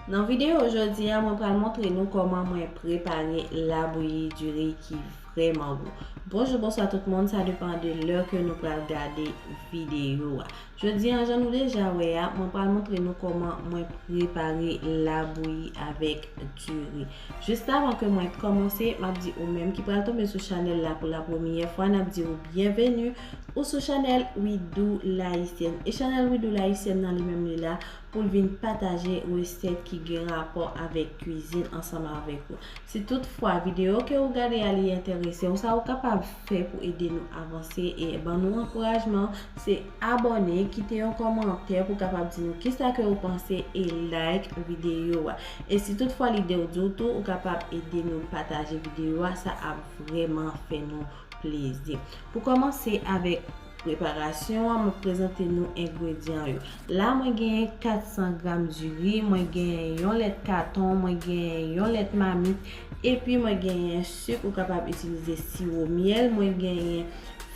Nan video jodi a mwen pral montre nou kòman mwen prepare labouyi diri ki vrèman gou. Bonjou bonswa tout moun sa depan de lè ke nou pral gade video a. Jodi a jan nou deja wè a mwen pral montre nou kòman mwen prepare labouyi avèk diri. Jist avan ke mwen kòmanse map di ou menm ki pral tonbe sou chanèl la pou la premyè fwa nap di ou byenveni ou sou chanèl Widoo L'haïtienne. E chanèl Widoo L'haïtienne nan li menm li la pou l vin pataje resèt ki gen rapò avèk kwizin ansanm avèk ou. Si tout fwa videyo ke ou gade a li enterese ou, sa ou kapab fè pou ede nou avanse e ban nou ankourajman, se abòne, kite yon kòmantè pou kapab di nou kisa ke ou panse e like videyo a. E si tout fwa lide ou di ou tou, ou kapab ede nou pataje videyo a, sa ap vrèman fè nou plezi. Pou kòmanse avèk. Preparasyon an, mwen prezante nou engredyan yo. La mwen genyen 400 gram diri, mwen genyen yon lèt katon, mwen genyen yon lèt mamit, epi mwen genyen suk ou kapab itilize siwo myèl, mwen genyen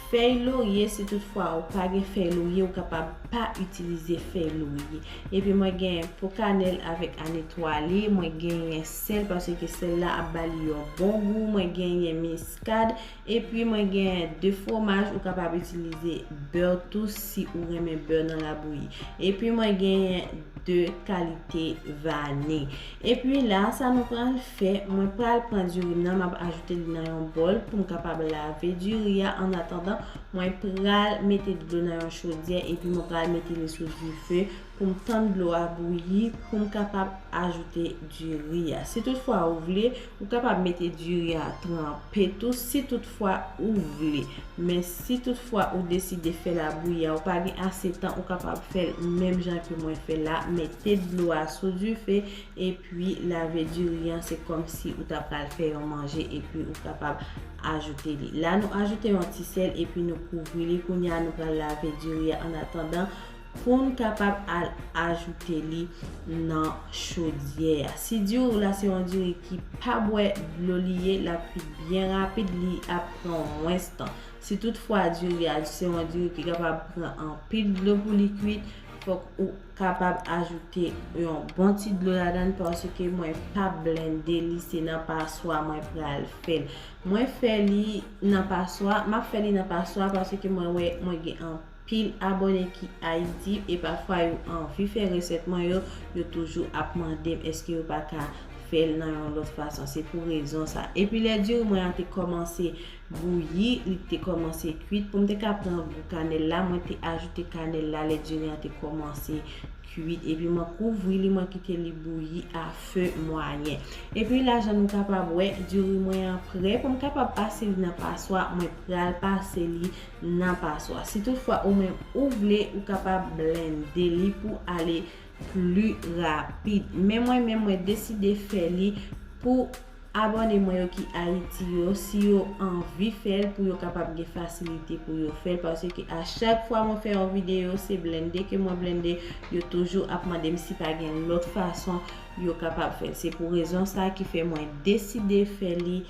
fèy lorye si tout fwa ou pa gen fèy lorye ou kapab pa itilize fèy lorye. Epi mwen genyen po kanèl avèk an etwale, mwen genyen sèl paseke sèl la ap bali yon bon gou, mwen genyen miskad, Epi mwen gen 2 fwomaj ou kapab itilize bè tou si ou renmen bè nan labouyi. Epi mwen genyen 2 kalite vani. Epi la sa nou pral fè, mwen pral pran diri m nan m ap ajoute li nan yon bòl pou m kapab lave diri a an atandan mwen pral mete dlo nan yon chodyè epi mwen pral mete li sou dife pou m tann dlo a bouyi pou m kapab ajoute diri a. Si tout fwa ou vle, ou kapab mete diri a tranpe tou si tout fwa ou vle. Men si tout fwa ou deside fè labouyi a ou pa gen ase tan ou kapab fè l menm jan ke mwen fè la, mete dlo a sou dife epi lave diri an se kòm si ou ta pral fè yon manje epi ou kapab ajoute li. La nou ajoute yon ti sèl epi nou kouvri li. Kounya nou pral lave diri a an atandan. Poun kapab al ajoute li nan chodyè a. Si diri ou la se yon diri ki pa bwè dlo li ye lap kwit byen rapid li ap pran mwens tan. Si tout fwa diri a se yon diri ki kapab pran anpil dlo pou li kwit fok ou kapab ajoute yon bon ti dlo ladann paske mwen pa blende li se nan paswa mwen pral fèl. Mwen fè li nan paswa, map fè li nan paswa paske mwen wè mwen gen anpil. Pil abone ki ayiti e pafwa yo anvi fè resèt mwen yo, yo toujou ap mandem eske yo pa ka fèl nan yon lòt fason se pou rezon sa. Epi lè diri mwen an te kòmanse bouyi, li te kòmanse kuit poum te ka pran gou kanèl la mwen te ajoute kanèl la lè diri an te kòmanse kuit epi mwen kouvri li mwen kite li bouyi a fe mwayen. Epi la jan nou kapab wè diri mwen an prè poum kapab pase li nan paswa mwen pral pase li nan paswa. Si tout fwa ou menm ou vle ou kapab blende li pou ale pli rapid. Men mwen menm mwen deside fè li pou abòne mwen yo ki Ayiti yo si yo anvi fèl pou yo kapab gen fasilite pou yo fèl paske a chak fwa mwen fè yon videyo se blende ke mwen blende yo toujou ap mandem si pa gen lòt fason yo kapab fèl. Se pou rezon sa ki fè mwen deside fè li.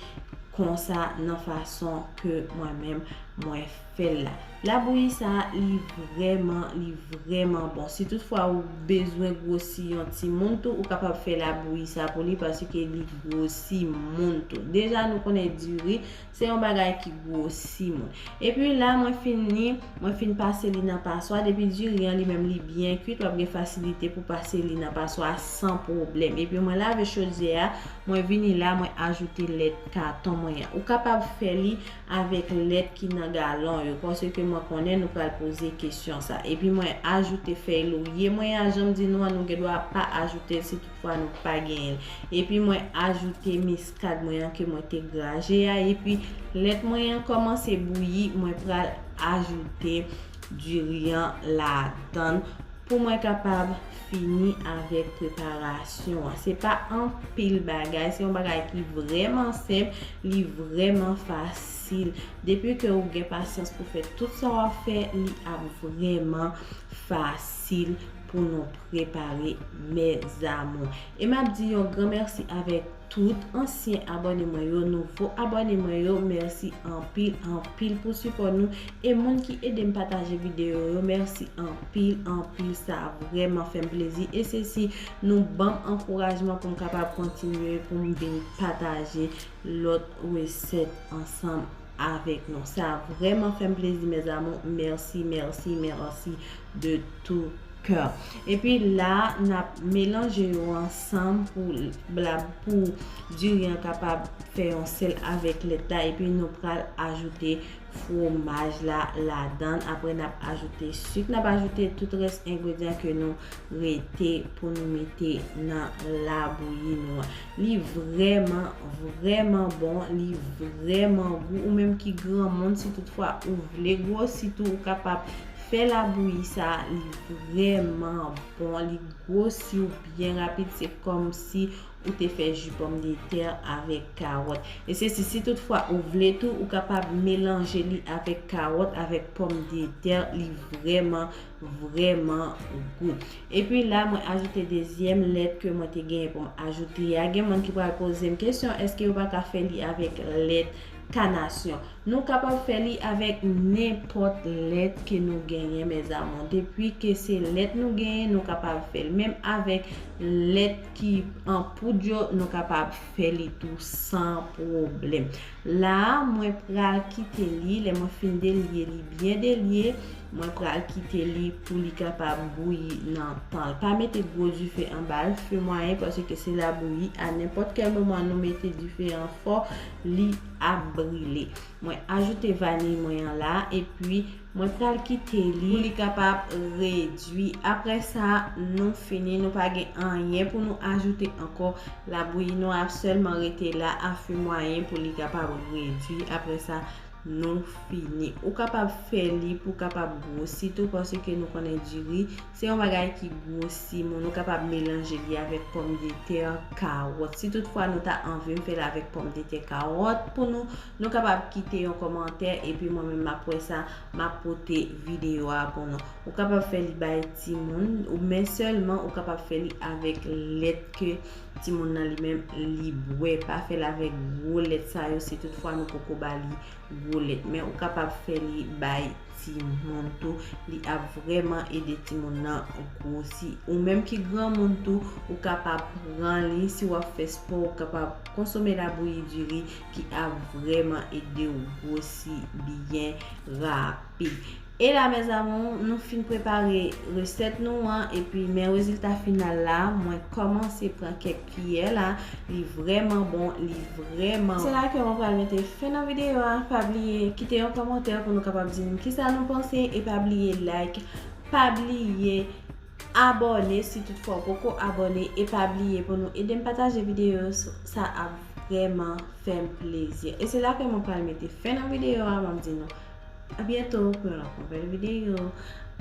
konsa nan fason ke mwen menm mwen fèl la. Labouyi sa li vrèman li vrèman bon. Si tout fwa ou bezwen gwosi yon ti moun tou ou kapab fè labouyi sa pou li paske li gwosi moun tou. Deja nou konnen diri se yon bagay ki gwosi moun. E pi la mwen fini mwen fin pase li nan paswa depi diri an li menm li byen kwit wap gen fasilite pou pase li nan paswa san pwoblèm. E pi mwen lave chodyè a. Mwen vini la mwen ajoute lèt katon mwen an. Ou kapab fè li avèk lèt ki nan galon yo. Pase ke mwen konnen nou pral poze kesyon sa. E pi mwen ajoute fèy lorye mwen an. Janm di nou an nou gen dwa pa ajoute l si tout fwa nou pa genyen l. E pi mwen ajoute miskad mwen an ke mwen te graje a. E pi lèt mwen an komanse bouyi mwen pral ajoute. Diri an ladan pou mwen kapab fini avèk preparasyon an. Se pa anpil bagay, se yon bagay ki vrèman senp, li vrèman fasil. Depi ke ou gen pasyans pou fè tout sa w ap fè, li ap vrèman fasil pou nou prepare mèzamou. E m ap di yon gran mèsi avèk. Tout ansyen abòne mwen yo, nouvo abòne mwen yo mèsi anpil anpil pou sipò nou e moun ki edem pataje videyo yo mèsi anpil anpil sa vrèman fèm plezi e se si nou banm ankourajman poum kapab kontinye poum vin pataje lòt resèt ansanm avèk nou sa vrèman fèm plezi mes amour merci merci merci de tout coeur epi la nap melanje yo ansanm pou la pou diri an kapab fè yon sèl avèk lèt la epi nou pral ajoute fromaj la ladan apre nap ajoute suk nap ajoute tout rès engredyan ke nou rete pou nou mete nan la bouyi nou an. Li vrèman vrèman bon li vrèman gou ou menm ki granmoun si tout fwa ou vle gwosi tou ou kapab fè labouyi sa li vrèman bon li gwosi ou byen rapid se kòmsi ou te fè ji pòm de tè avèk kawòt e se si si tout fwa ou vle tou ou kapab melanje li avèk kawòt avèk pòm de tè li vrèman vreman gout. Epi la mwen ajoute dezyèm lèt ke mwen te genyen pou m ajoute a. Gen moun ki pral poze m kesyon eske yo pa ka fè li avèk lèt kanasyon. Nou kapab fè li avèk nenpòt lèt ke nou genyen mèzamou. Depi ke se lèt nou genyen nou kapab fè l. Menm avèk lèt ki an poud yo nou kapab fè li tou san pwoblèm. La a, mwen pral kite li, lè mwen fin delye li byen delye, mwen pral kite li pou li kapab bouyi nan tan l. Pa mete gwo dife anba l, fe mwayen pase ke se la bouyi, a nenpòt kèl moman nou mete dife an fò, li ap brile. Mwen ajoute vaniy mwen an la, epi. Mwen pral kite li pou li kapab redwi. Apre sa, nou fini. Nou pa gen anyen pou nou ajoute ankò. Labouyi nou a ap sèlman rete la a feu mwayen pou li kapab redwi. Apre sa, nou fini. Ou kapab fè li pou kapab gwosi tou paske nou konnen diri se yon bagay ki gwosi moun. Ou kapab melanje li avèk pòmdetè, kawòt. Si tout fwa nou ta anvim fè l avèk pòmdetè, kawòt pou nou. Nou kapab kite yon kòmantè epi mwen menm map wè sa, map pote videyo a pou nou. Ou kapab fè li bay timoun, men sèlman ou kapab fè li avèk lèt ke timoun nan li menm li bwè. Pa fè l avèk gwo lèt sa yo si tout fwa nou poko ba li gwo lèt. Men ou kapab fè li bay timoun tou, li ap vrèman ede timoun nan gwosi. Ou menm ki granmoun tou, ou kapab pran li, si wap fè spò ou kapab konsome labouyi diri. ki ap vreman ede ou gwosi byen rapid. E la mes amours, nou fin prepare resèt nou an epi men rezilta final la, mwen kòmanse pran kèk kiyè la, li vreman bon, li vreman. Se la ke mwen pral mete fen nan videyo a, pa bliye kite yon kòmantè pou nou kapab di m kisa nou panse e pa bliye like, pa bliye. Abòne si tout fwa ou poko abòne e pa bliye pou nou edem pataje videyo sa ap vrèman fèm plezi e se la ke mwen pral mete fen nan videyo a map di nou a byento pou yon lòt nouvèl videyo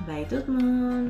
bay tout moun.